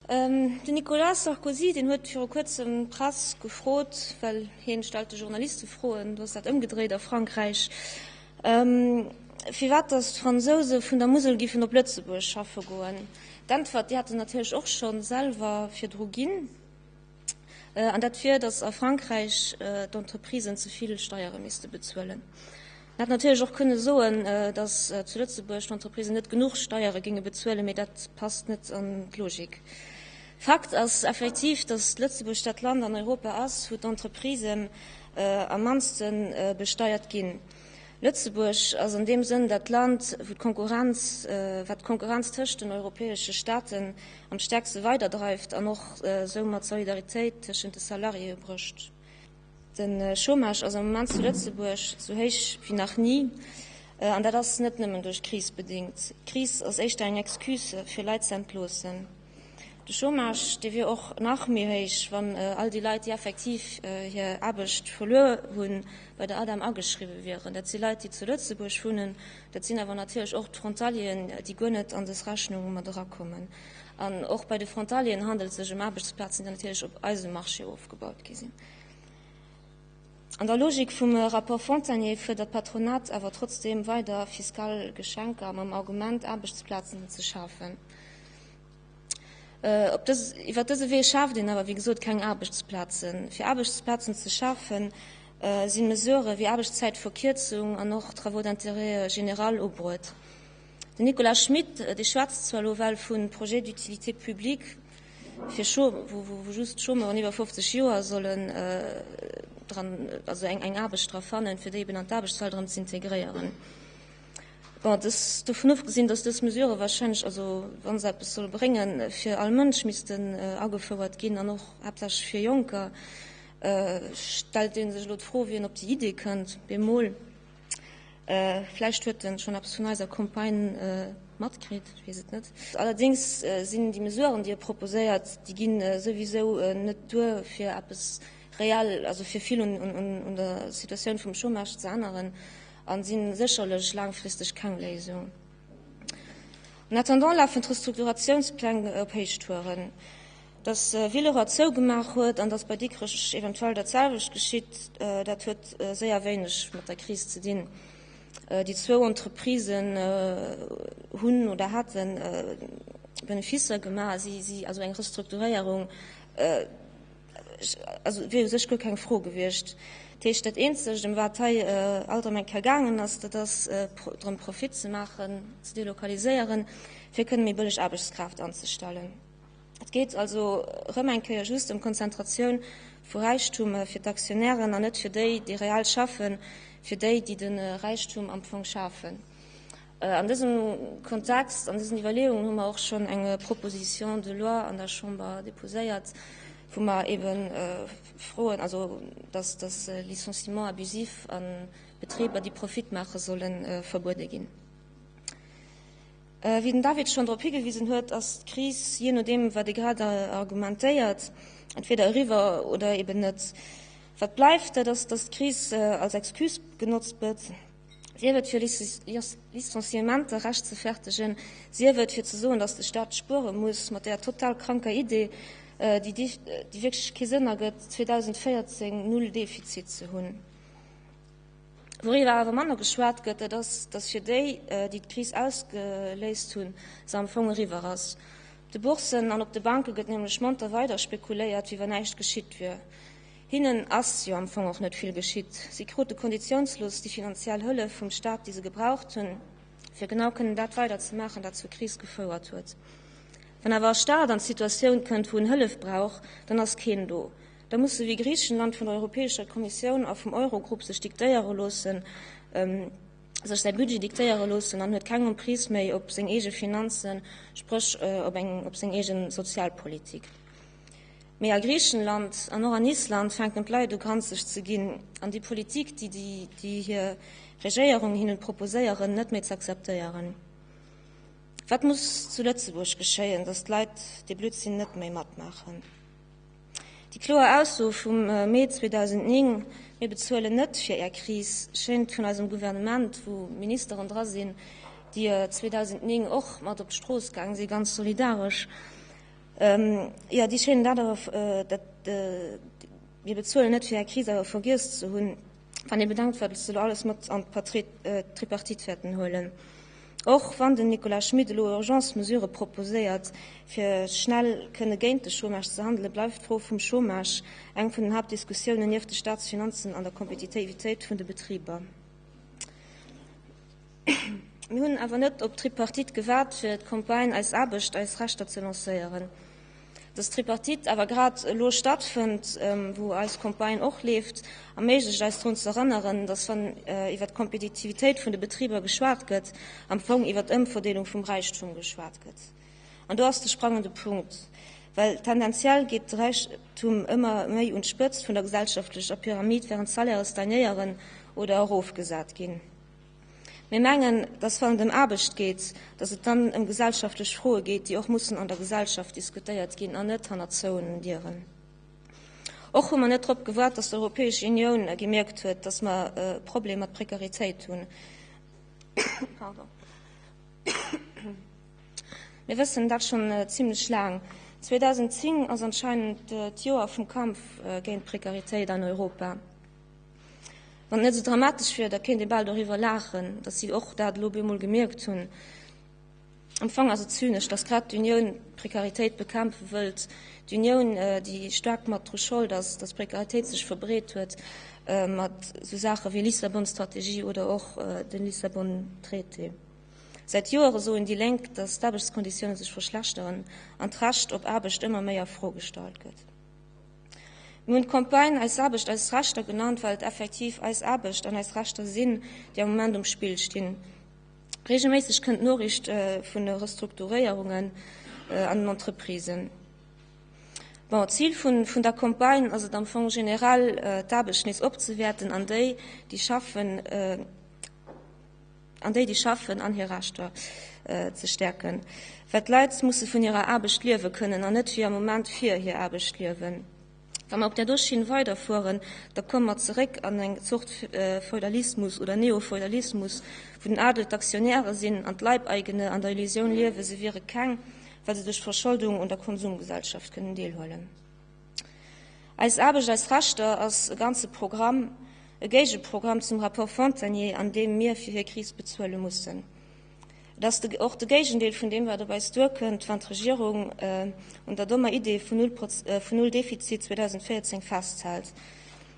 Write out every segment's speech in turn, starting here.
Den Nicolas Sarkozy, deen huet viru kuerzem d'Press gefrot, well hien stellt de Journaliste Froen, do ass dat ëmgedréit a Frankräich, firwat datt d'Fransouse vun der Musel giffen op Lëtzebuerg schaffe goen. D'Äntwert, déi hätt en natierlech och scho selwer virdru ginn. An dat wier, datt a Frankräich d'Entreprisen ze vill Steiere misste bezuelen. En hätt natierlech och kënne soen, datt zu Lëtzebuerg d'Entreprisen net genuch Steiere géinge bezuelen, mee dat passt net an d'Logik. Fakt ass effektiv, datt Lëtzebuerg dat Land an Europa ass, wou d'Entreprisen am mannste besteiert ginn. Lëtzebuerg ass an deem Sënn dat Land, wou d'Konkurrenz, wat d'Konkurrenz tëscht den europäesche Staaten am stäerkste weiderdreift an och soumat d'Solidaritéit tëschent de Salariéë brécht. De Chômage ass am Moment zu Lëtzebuerg sou héich wéi nach ni, an dat ass net nëmmen duerch d'Kris bedéngt. D'Kris ass éischter eng Excuse fir Leit ze entloossen. De Chômage, dee wier och nach méi héich, wann all déi Leit, déi effektiv hir Aarbecht verluer hunn, bei der ADEM ageschriwwe wieren. Dat si Leit, déi zu Lëtzebuerg wunnen. Dat sinn awer natierlech och d'Frontalieren, déi guer net an dës Rechnung mat erakommen. An och bei de Frontalieren handelt et sech ëm Aarbechtsplazen, déi natierlech op eisem Marché ofgebaut gi sinn. An der Logik vum Rapport Fontagné fuerdert d'Patronat awer trotzdeem weider fiskal Geschenker mam Argument, Aarbechtsplazen ze schafen. Iwwer dëse Wee schaaft een awer, wéi gesot, keng Aarbechtsplazen. Fir Aarbechtsplazen ze schafen, si Mesurë wéi Aarbechtszäitverkierzung an och Travaux d'intérêt général ubruet. Den Nicolas Schmit, dee schwätzt zwar elo well vun Projet d'utilité publique, fir Chômeur, wou, wou, wou just Chômeuren iwwer 50 Joer sollen dran, also eng, eng Aarbecht dra fannen, fir déi eben an d'Aarbechtswelt erëm z'integréieren. Bon, dës, dovun ofgesinn, datt dës Mesurë wahrscheinlech, also wa se eppes solle bréngen, fir all Mënsch missten agefouert ginn an och haaptsächlech fir Jonker, stellt ee sech elo d'Fro, wien op déi Idee kënnt, bemol. Vläicht huet en schonn eppes vun eiser Campagne matkritt, ech weess et net. Allerdéngs sinn déi Mesuren, déi e proposéiert, déi ginn souwisou net duer fir eppes reell, also fir vill un der Situatioun vum Chômage ze änneren a sinn sécherlech laangfristeg keng Léisung. En attendant lafen d'Restrukturatiounspläng op Héichtouren. Datt Villeroy zougemaach huet an datt bei Dikrech eventuell dat selwecht geschitt, dat huet séier wéineg mat der Kris ze dinn. Déi zwou Entreprisen hunn oder hate Beneficer gemaach, also eng Restrukturéierung wier u sech guer keng Fro gewiescht. Dat heescht, dat Eenzegt, ëm wat hei alt am Ecker gaangen ass, dat ass drëm, Profit ze maachen, ze delokaliséieren, fir kënnen méi bëlleg Aarbechtskraaft anzestellen. Et geet also erëm eng Kéier just ëm d'Konzentratioun vu Räichtum fir d'Aktionären an net fir déi, déi reell schaffen, fir déi, déi de Räichtum am Fong schafen. An dësem Kontext, an dësen Iwwerleeungen hu mer och schonn eng Proposition de loi an der Chamber déposéiert, wou mer eebe froen, also dass de Licenciement abusif a Betriber, déi Profit maachen, solle verbuede ginn. Wéi den David schonn drop higewisen huet, ass d'Kris, jee nodeem wat ee grad argumentéiert, entweder eriwwer oder eben net. Wat bleift, dat ass, datt d'Kris als Excuse genotzt gëtt, sief et fir Licenciementer rechtzefertegen, sief et fir ze soen, datt de Staat spuere muss, mat där total kranker Idee, déi wierklech kee Sënn ergëtt, 2014 null Defizit ze hunn. Wouriwwer awer manner geschwat gëtt, dat ass, datt fir déi, déi d'Kris ausgeléist hunn, se am Fong eriwwer ass. Op de Bourssen an op de Banke gëtt nämlech monter weider spekuléiert, wéi wann näischt geschitt wier. Hinnen ass jo am Fong och net vill geschitt. Si krute konditiounslos déi finanziell Hëllef vum Staat, déi se gebraucht hunn, fir genau kënnen dat weider ze maachen, wat zur Kris gefouert huet. Wann awer e Staat an d'Situatioun kënnt, wou en Hëllef brauch, dann ass keen do. Da muss se wéi Griichenland vun der Europäescher Kommissioun a vum Eurogrupp sech diktéiere loossen, sech säi Budget diktéiere loossen an huet keng Emprise méi op seng eege Finanzen, spréch op seng eege Sozialpolitik. Mee a Griichenland an och an Island fänken d'Leit u granzeg ze ginn an déi Politik, déi hir Regéierung hinne proposéieren, net méi z'akzeptéieren. Wat muss zu Lëtzebuerg geschéien, datt d'Leit dee Blödsinn net méi matmaachen? Déi kloer Ausso vum Mee 2009, Mir bezuelen net fir Är Kris, schéngt vun eisem Gouvernement, wou Ministeren dra sinn, déi 2009 och mat op d'Strooss gaang si ganz solidaresch, jo, déi schéinen dat awer, Mir bezuelen net fir Är Kris, awer vergiess ze hunn. Wann ee bedenkt, wat ech elo alles mat an d'Tripartite wäerten huelen, och wann den Nicolas Schmit elo Urgence-Mesurë proposéiert, fir schnell kënne géint de Chômage ze handelen, bleift d'Fro vum Chômage eng vun den Haaptdiskussiounen nieft de Staatsfinanzen an der Kompetitivitéit vun de Betriber. Mir hunn awer net op d'Tripartite gewaart fir d'Campagne Eis Aarbecht, eis Rechter ze lancéieren. Datt d'Tripartite awer grad elo stattfënnt, wou eis Campagne och leeft, erméiglecht eis drun z'erënneren, datt wann iwwer d'Kompetitivitéit vun de Betriber geschwat gëtt, am Fong iwwer d'Ëmverdeelung vum Räichtum geschwat gëtt. An do ass de sprangende Punkt, well tendenziell geet de Räichtum ëmmer méi un d'Spëtzt vun der gesellschaftlecher Pyramid, wärend d'Salaire stagnéieren oder erofgesat ginn. Mir mengen, dass wann et ëm Aarbecht geet, dass et dann ëm gesellschaftlech Froe geet, déi och mussen an der Gesellschaft diskutéiert ginn an net hannert zouenen Dieren. Och hu mer net drop gewaart, dass d'Europäesch Unioun gemierkt huet, dass mer e Problem mat Prekaritéit hunn. Mir wëssen dat schonn zimlech laang. 2010 ass anscheinend d'Joer vum Kampf géint d'Prekaritéit an Europa. Wann et net esou dramatesch wier, da kéint ee bal doriwwer laachen, datt si och dat elo op eemol gemierkt hunn. Am Fong ass et zynesch, datt grad d'Unioun d'Prekaritéit bekämpfe wëllt, d'Unioun, déi staark mat dru Schold ass, datt d'Prekaritéit sech verbreet huet, mat esou Saache wéi Lissabon-Strategie oder och de Lissabon-Traité. Säit Joere soen déi Lénk, datt d'Aarbechtskonditioune sech verschlechteren an d'Recht op Aarbecht ëmmer méi a Fro gestallt gëtt. Mir hunn d'Campagne Eis Aarbecht, eis Rechter genannt, well et effektiv eis Aarbecht an eis Rechter sinn, déi am Moment um Spill stinn. Reegelméisseg kënnt d'Noriicht vun de Restrukturéierungen an den Entreprisen. Bon, d'Zil vun der Campagne ass et am Fong generell, d'Aarbecht nees opzewäerten an déi, déi schaffen, an déi, déi schaffen, an hir Rechter ze stäerken, well d'Leit musse vun hirer Aarbecht liewe kënnen an net wéi am Moment fir hir Aarbecht liewen. Wa mer op där do Schinn weiderfueren, da komme mer zeréck an eng Zort Feudalismus oder Neofeudalismus, wou den Adel d'Aktionäre sinn an d'Leibeigene an der Illusioun liewen, se wiere keng, well se duerch d'Verscholdung un der Konsumgesellschaft kënnen deelhuelen. Eis Aarbecht, eis Rechter ass e ganze Programm, e Géigeprogramm zum Rapport Fontagné, an deem mir fir hir Kris bezuele mussen. Et ass och de Géigendeel vun deem, wat op eis duerkënnt, wann d'Regierung un der dommer Idee vun null vun null Defizit 2014 festhält.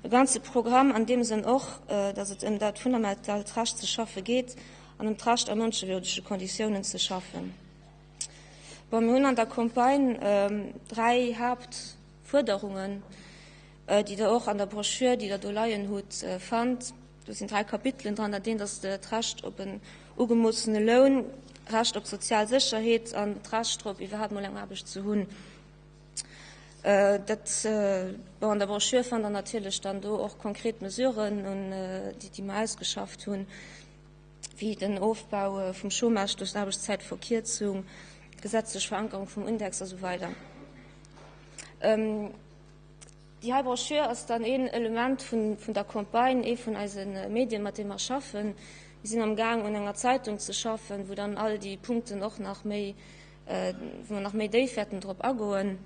E ganze Programm an deem Sënn och, datt et ëm dat fundamentalt Recht ze schaffe geet an ëm d'Recht a mënschewürdege Konditiounen ze schaffen. Bon, mir hunn an der Campagne dräi Haaptfuerderungen, déi Der och an der Broschür, déi Der do leien hutt, fannt. Do sinn dräi Kapitelen dran. Dat eent ass d'Recht op en ugemoossene Loun, d'Recht op sozial Sécherheet an d'Recht drop, iwwerhaapt emol eng Aarbecht ze hunn. Dat, bon, an der Broschür fannt Der natierlech dann do och konkret Mesuren, déi mer ausgeschafft hunn. wéi den Ofbau vum Chômage duerch d'Aarbechtszäitverkierzung, d'gesetzlech Verankerung vum Index a sou weider. Déi hei Broschür ass dann een Element vun der Campagne, ee vun eise Medien, mat deem mer schaffen. Mir sinn am Gaang un enger Zeitung ze schaffen, wou dann all déi Punkten och nach méi, wou mer nach méi déif wäerten drop agoen.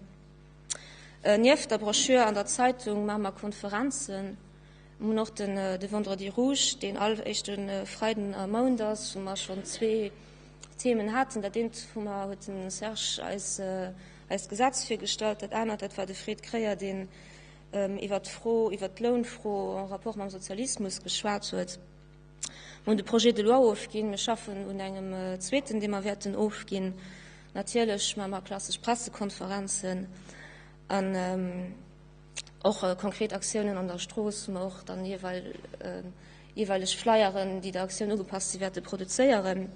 Nieft der Broschür an der Zeitung maache mer Konferenzen. Mir hunn och den de Vendredi rouge, deen all éischte Freiden am Mount ass, wou mer schonn zwee Themen haten. Dat eent hu mer, huet de Serge eis eist Gesetz virgestallt, dat anert, dat war de Fred Kreyer, deen iwwert d'Fro, iwwert d'Lounfro en rapport mam Sozialismus geschwat huet. Mir hunn de Projet de loi ofginn. Mir schaffen un engem zweeten, dee mer wäerten ofginn. Natierlech maache mer klassesch Pressekonferenzen an, Och konkret Aktiounen an der Strooss, ma och dann jeeweileg Flyeren, déi der Aktioun ugepasst si wäerte produzéieren.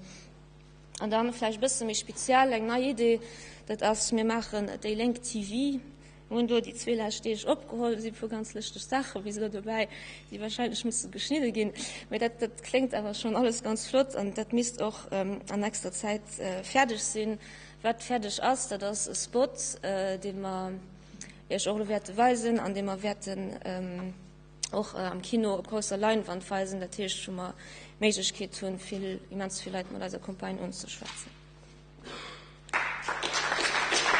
An dann vläicht e bësse méi speziell eng nei Idee, dat ass, mir maachen déi Lénk TV. Mir hunn do déi zwee lescht Deeg opgeholl, do si e puer ganz lëschteg Saache bis elo dobäi, déi warscheinlech musse geschnidde ginn. Mee dat kléngt awer schonn alles ganz flott an dat misst och an nächster Zäit fäerdeg sinn. Wat fäerdeg ass, dat ass e Spot, dee mer, Iech och elo wäerte weisen, an dee mer wäerten och am Kino op grousser Leinwand weisen, dat heescht wou mer d'Méiglechkeet hu vill, immens vill Leit mat eiser Campagne unzeschwätzen. Applaus